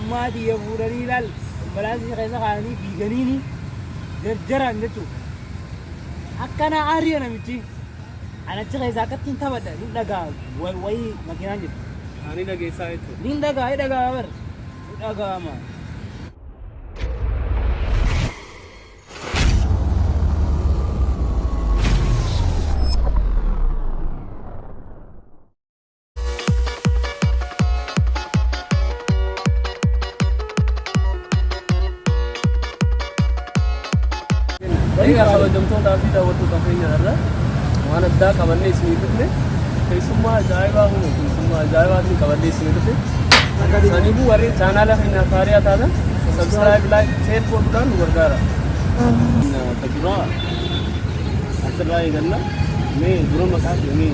Ummaa tiyya fuudhanii laal ambalaasii keessa kaa'anii fiiganiini jarjaraan jechuudha. Akkana aariya namichi. An achi keessa akkatti hin taphadha hin dhagaa wa- wayii makiinaan jedhu. Ani dhageessaa jechuudha. Niin dhagaa hin dhagaa bar. Hin dhagaama. Egaa kabajamtootaa fi daawwattoota keenya irra waan addaa qabannee isinii dhufne keessummaa ajaa'ibaa humna keessummaa ajaa'ibaa isin qabannee isinii dhufne. Saniifuu warri chaanaala keenya faariyaa taatan sabskiraayib laayik sheer godhuudhaan nu gargaara. Kan duraa Asirraa eeganna mee dura maqaa keenii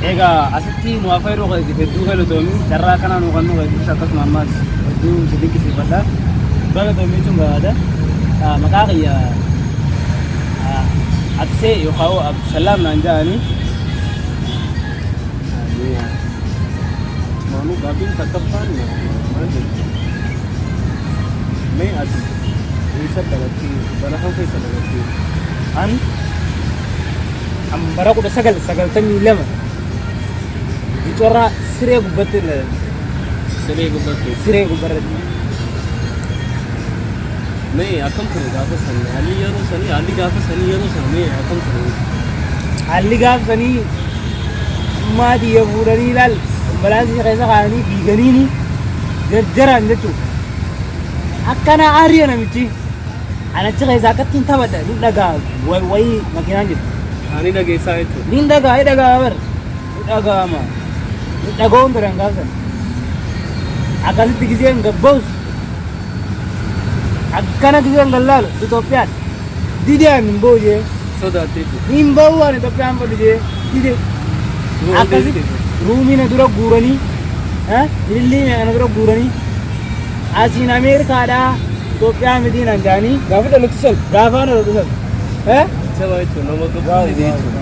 Egaa asitti nu hafa yeroo keessatti hedduu galatoomi carraa kana nu kan nu keessatti akkasuma ammas hedduu si dinqisiifadha. Galatoomi jechuun barbaada. Ah, Maqaa kiyya ah, Absee yookaan Abdusalaam naan jedhani. Ameen. Maamuu gaaffiin takkaffaan maal jedhu mee ati eessa dhalattee bara kam keessa dhalattee An kan bara kudha sagal sagaltamii lama bicorraa siree gubbatti ilaalan siree gubbattee siree gubbarratti Mee akkam ture gaafa sanii? Haalli yeroo sanii, haalli gaafa sanii yeroo sana mee akkam ture? Haalli gaafa sanii ummaa xiyya fuudhanii ilaal ambulaansii keessa kaa'anii fiiganiini jarjaraan jechuudha. Akkana aariya namichi an achi keessa akkatti hin taphadha ni dhagaa wayii makiinaan jirti. Ani dhageessaa jechuudha. Ni dhagaa ni dhagaa bar. nu dhaga'ama nu dhaga'uun biraan gaafsan akkasitti gizeen gabba'us akkana gizeen gallaalu Itoophiyaan dideen hin ba'u jee Sodaattee jiru. hin ba'u waan Itoophiyaan fadhu jee dide akkasitti ruumiina dura guuranii eh, ilillii meeqana dura guuranii asiin Ameerikaadhaa Itoophiyaa mitiin hangaanii Gaafa dhalatu san. gaafa na dhufan. Eh? Sabaa jechuun nama gabbaa jechuudha.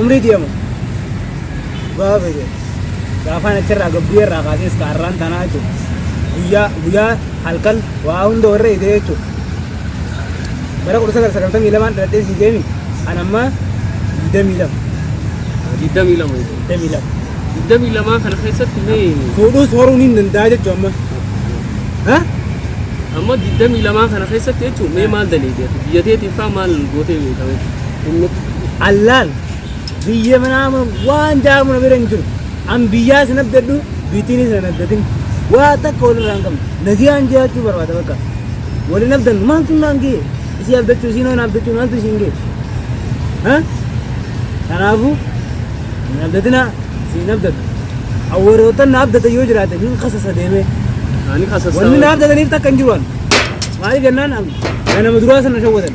Umrii deemu gaafa fedhe gaafaan achirraa gabbuu irraa kaasee iska har'aan tanaa jechuudha. Guyyaa guyyaa halkan waa hunda warra hidhee jechuudha. Bara kudha sagal sagaltamii lamaan dhaladhee sii deemi an ammaa digdamii lama. Digdamii lama jechuudha. Digdamii lama. Digdamii lamaa kana keessatti mee Fuudhuus horuun hin danda'a jechuudha amma. Ha? amma digdamii lamaa kana keessatti jechuudha mee maal daleedee biyya teetiin faa maal gootee beekame? Innis. Allaal! Biyya manaa mana waan jaamu na bira hin jiru. An biyyaa sin abdadhu, biitiinis nan abdatin. Waa takka wal irraa hin qabnu. Nagiyaan jiraachuu barbaada bakka. Wal hin abdannu. Maaltu naan ga'e? Isii abdachuu, isiin waan abdachuu maaltu isiin ga'e? Ha? Kanaafuu hin abdatinaa, isin hin abdadhu. Awwarootan na abdatan yoo jiraate nin kasasa deemee. Ani qasassaa. Wanni na abdataniif takka hin jiru an. Maaliif jennaan an ganama duraa sana shawwatan.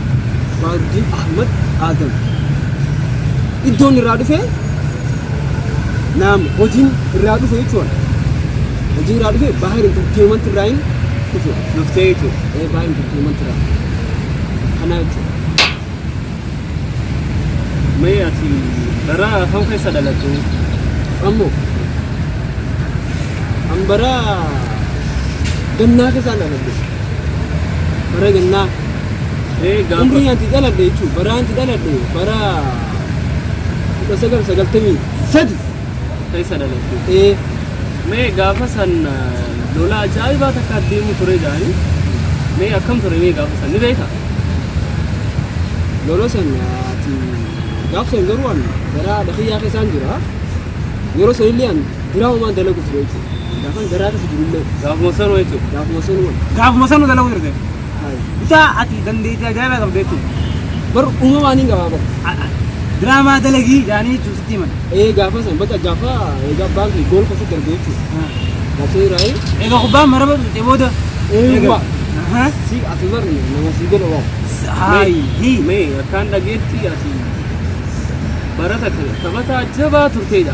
Abdi Ahmad Adam. Iddoon irraa dhufe naam hojiin irraa dhufe jechuudha. Hojii irraa dhufe Bahar Entertainment irraa hin dhufe. Dhuftee jechuudha. Ee Bahar Entertainment irraa. Kanaa jechuudha. Mee ati bara kam keessa dhalatte? Ammoo an bara gannaa keessaan dhaladhe. Bara gannaa. Ee gaafa. Umrii ati dhaladhe jechuun bara ati dhaladhe bara kudha sagal sagaltamii sadi. Keessa dhalatte. Ee Mee gaafa san eh, lola ajaa'ibaa takka deemu ture jaanii. Mee akkam ture mee gaafa san ni beeka? lola san ati gaaf san garuu an garaa dhakiyyaa keessaan jira. Yeroo san illee an diraama maan dalagu ture jechuudha. Gaafan garaa keessa jiru illee Gaafuma sanuu jechuudha. gaafuma sanumaan. Gaafuma sanu dalaguu jirte. Bitaa ati dandeettii ajaa'ibaa qabda jechuudha. Bar uumamaan hin qabaa bar. Diraamaa dalagii jaanii jechuun sitti himan. Ee gaafa san bakka gaafa egaa abbaan kee gool qofa darbe jechuudha. Gaafa iraayi. Egaa kubbaan maraba dhufte booda. Ee waa. Si ati bar nama si godha waa. Haayi. Mee akkaan dhageetti ati barata taphataa jabaa turteedha.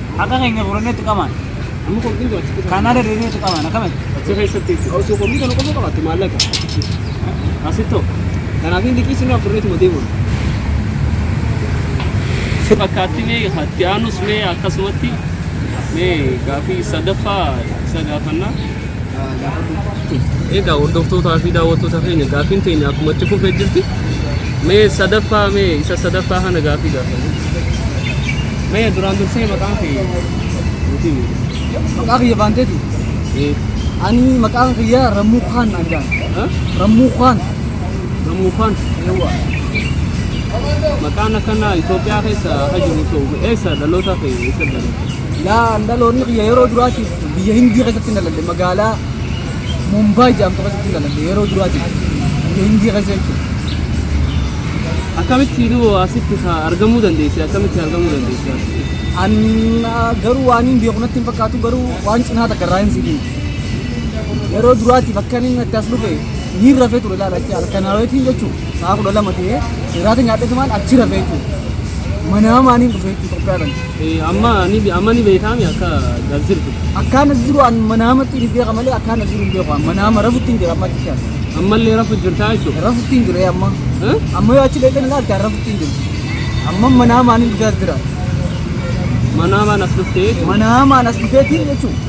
Haqa keenya furannee itti qamaan. Amma qulqullin jira achi keessa. Kanaa deddeebiin itti qamaan akkamatti. Achi keessatti jechuudha. Osoo qulqullin kana qofa qabaatte maallaqa. Asittoo. Kanaaf inni liqii sirraa furreetuma deemuun. Fakkaatti mee itti aanus mee akkasumatti mee gaaffii sadaffaa isa gaafannaa. Egaa hordoftootaa fi daawwattoota keenya gaaffiin teenya akkuma itti fufee jirti. Mee sadaffaa mee isa sadaffaa kana gaaffii gaafanne. Mee duraan dursee maqaan kee nuti himi. Maqaa kiyya baanteeti. Ee, Ani maqaan kiyya Rammuu Kaan naan jedhan. ha? Rammuu Kaan. Rammuu Kaan. Yawwa. Maqaan akkanaa Itoophiyaa keessa akka jiru ta'u eessa dhaloota kee eessa dhaloota? Laa andaloonni kiyya yeroo duraatiif biyya Hindii keessatti nalalle magaalaa Mumbaay jedhamtu keessatti nalalle yeroo duraatiif biyya Hindii keessa jechuudha. Akkamitti nu asitti ka- argamuu dandeesse? Akkamitti argamuu dandeesse? An ah, garuu waan hin beeku natti hin fakkaatu garuu waan cinaa takka irraa hin sibiin. Yeroo duraatiif akka inni natti as dhufe miirra fee ture laala jechuudha. Halkan hawweetiin jechuudha. Sa'a kudha lama ta'ee irraata nyaadhee tumaan achi rafee jechuudha. Manaa maaniin dhufee jechuudha Itoophiyaadhaan. Eh, amma ni amma ni beekame akka as jirtu. Akkaan as jiru an manaamatti hin beeka malee akkaan as jiru hin beeku. An Manaama rafutti hin jira amma achi jira. Ammallee rafu jirtaa jechuudha. Rafutti hin jira amma. Eh? Amma yoo achi dheetan ilaalte an rafutti hin jiru. Amma manaa maaniin dhufee as jira. Manaa maan as dhuftee jechuudha. Manaa maan as dhufeetiin jechuudha.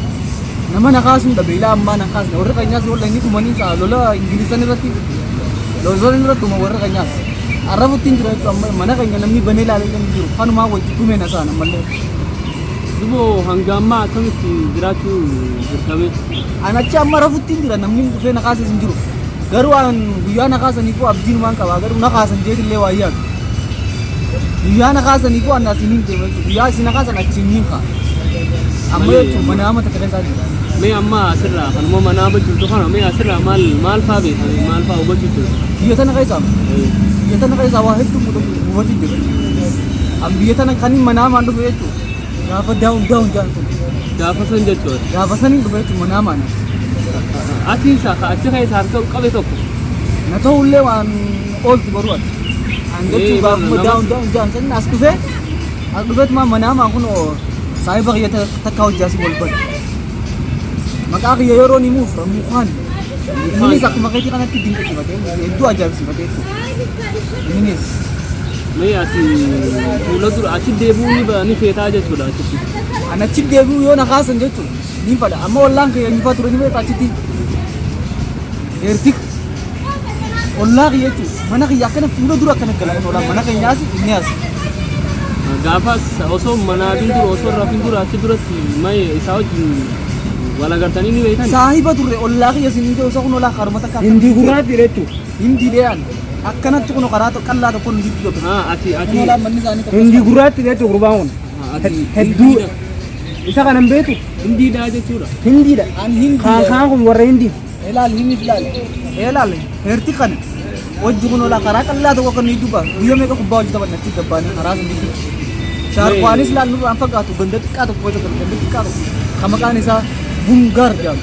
Nama na kaasuudha beelaa ammaa nan kaasna warri keenyaas walla inni dhumanii ta'a lola ingilisan irratti lolzooleen irratti dhuma warri keenyaas arrafutti hin jira jechuudha amma mana keenya namni banee ilaalee kan jiru kanumaa wajji dhumeen asaan ammallee Duboo hanga ammaa akkamitti jiraachuu dirqamee? an achi amma arrafutti hin jira namni dhufee na kaases hin jiru Garuu an guyyaa na kaasaniifuu abdiinumaan qaba garuu na kaasan jeetillee waa yaadu. Guyyaa na kaasaniifuu an asiin hin deema jechuudha. Guyyaa isin na kaasan achiin niin ka'a. Amma Malee- jechuun mana amma takka keessaa jira. Mee amma asirraa kanuma manaa amma jirtu kana mee asirraa maal maal faa beekta mee maal faa hubachuu jirtu? Biyya tana keessaa biyya tana keessaa waa hedduu muudatu hubachuu jira. An biyya tana kan hin manaamaan dhufe jechuudha. Gaafa daawun daawun jedhan tokko. Gaafa san jechuudha. Gaafa saniin dhufe jechuun manaa maana. Achi isaa ka achi keessa harka qabe tokko. Na ta'ullee waan ooltu baruu ati. An Ee, jechuun gaafa nama- daawun daawun jedhan saniin as dhufe. As dhufeet maa manaa maa kun oo saahiba kiyya ta- takka hojjaasi wal bari. Maqaa kiyya yeroo ni muuf mukaan. Innis akkuma keetii kanatti dinqisiifatee hedduu ajaa'ibsiifatee jechuudha. Minis mee ati fuula dura achi deebi'uu ni ba- ni feetaa jechuudha achitti. Ani achi deebi'uu yoo na kaasan jechuun ni fadha. Amma ollaan kiyya nyufaa ture ni beekta achitti. Eertik. Ollaa kiyya jechuun mana kiyya akkana fuula dura akkana gala kun ollaan mana keenya asi inni asi. Gaafas osoo manaatiin dura osoo rafin dura achi duratti mee isaa wajjin wal agartanii ni beektan. Saahiba turre ollaa kiyya siin hin ta'u isa kun olaa karuma takka. Hindi gurraatti jechuudha. Hin diidee ani. Akkanatti kun karaa tokko qallaa tokko nu jidduu tokko. Ah, ati ati. Kun olaan manni isaanii tokko. Hindi gurraatti beektu gurbaan kun. Ah, ati. Hed- Hedduu isa kanan beektu Hindiidha jechuudha. hindiidha. Ani hin Kaan diidee. kaan kun warra hindi. Ilaal hin ilaal. Ilaal heerti kana. Hojji kun olaa karaa qallaa tokko kan jidduu ba'a. Guyyaa meeqa kubbaa hojii taphanna achi gabbaanii karaa sun jidduu. Shaarkwaanis laal nurraan fagaatu ganda xiqqaa tokko hojjetan ganda xiqqaa tokko. Kan maqaan isaa Bungaar jedhama.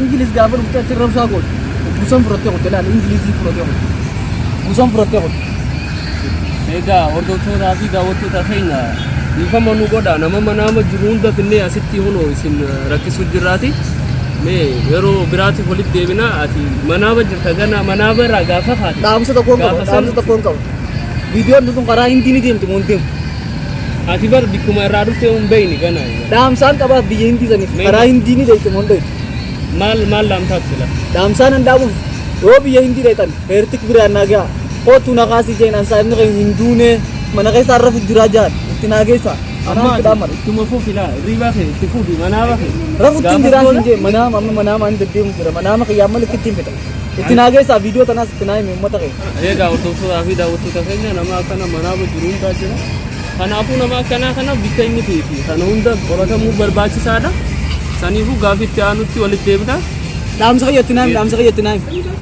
Ingiliz gaafa dhuftee achi rabshaa goote. Busan fudhattee qotte laal Ingilizii fudhattee qotte. Busan fudhattee qotte. Egaa hordoftootaa fi daawwattoota keenya dhiifama nu godha nama manaama jiru hunda finnee asitti hunoo isin rakkisuu jirraati. Mee yeroo biraatiif walitti deebina ati manaaba jirta gana manaaba irraa gaafa kaate. Dhaamsa tokkoon qaba. gaafa san- Dhaamsa tokkoon qaba. Viidiyoon tun karaa hindii ni deemti moo hin deemtu? Ati bar bikkuma irraa dhuftee hin beeyni gana. Dhaamsaan qabaaf biyya hindii saniif Mee- karaa hindii ni deeyte moo hin deeytu. Maal maal laamtaaf sila. Dhaamsaan an dhaamuuf yoo biyya hindii deeytan heertik biraan naa ga'a. Kootu na kaasii jeen ansaa inni keenya hin duunee mana keessa har'a fu jiraa jaan itti naa geessa. Anaa itti dhaammadha. ittuma fufi laa riibaa kee itti fufi manaa bahe. Rafu ittiin jiraa siin jeen manaama amma manaama ani deddeemu jira manaama kiyyaa malee ittiin fedha. Itti naa geessaa viidiyoo tanaas itti naa himi uummata kee. Eegaa hordoftoota fi daawwattoota keenya nama akkana manaa jiru hundaa jira. Kanaafuu nama akkanaa kana bitta inni fi kana hunda qoratamuu barbaachisaadha. Saniifuu gaaffii itti aanutti walitti deebina. Dhaamsa kiyya itti naa himi dhaamsa kiyya itti naa himi.